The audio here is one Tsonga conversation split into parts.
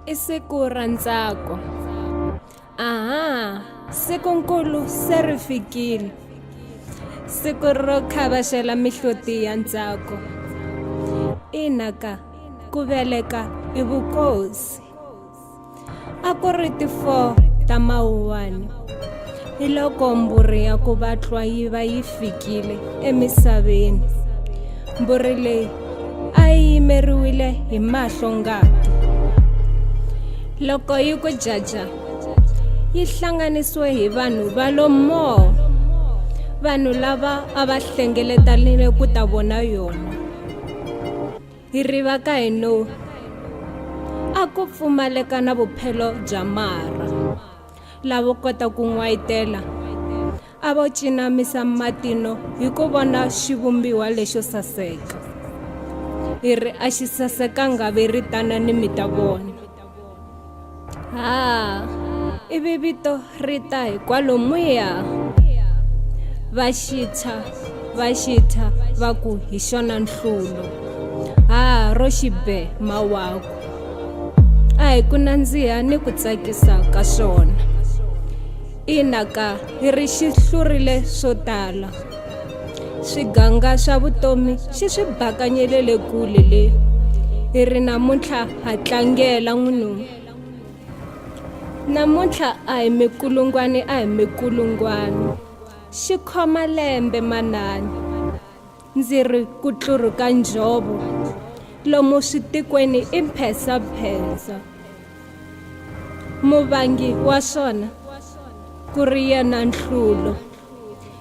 i siku ra ntsako aha siku nkulu se ri fikile siku ro khavaxela mihloti ya ntsako ina ka ku veleka i vukosi a ku ri ti 4 ta mawuwani hi loko mbhuri ya ku vatlwa yi va yi fikile emisaveni mbhuri leyi a yi yimeriwile hi mahlo ngati loko yi ku jaja yi hlanganisiwe hi vanhu va lo moo vanhu lava a va hlengeletanile ku ta vona yona hi riva ka hi no a ku pfumaleka na vuphelo bya marha lavo kota ku n'wayitela a vo cinamisa matino hi ku vona xivumbiwa lexo saseka hi ri a xi sasekanga ve ri tana ni mi ta vona ha ivi vito ri ta hi kwalomuya va xitshwa va xitshwa va ku hi xona nhlulo ha ro xibe mawaku a hi ku nandziha ni ku tsakisa ka swona ina ka hi ri xi hlurile swo tala swiganga swa vutomi xi swi bakanyelele kule le hi ri namuntlha ha tlangela n'winu namuntlha a hi mikulungwani a hi mikulungwani xi khoma lembe manani ndzi ri ku tluruka njhovo lomu switikweni i mphensaphensa muvangi wa swona ku ri yena nhlulo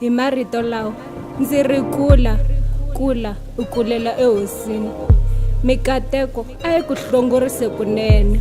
hi marito lawa ndzi ri kula kula u kulela ehosini mikateko a yi ku hlongorise kunene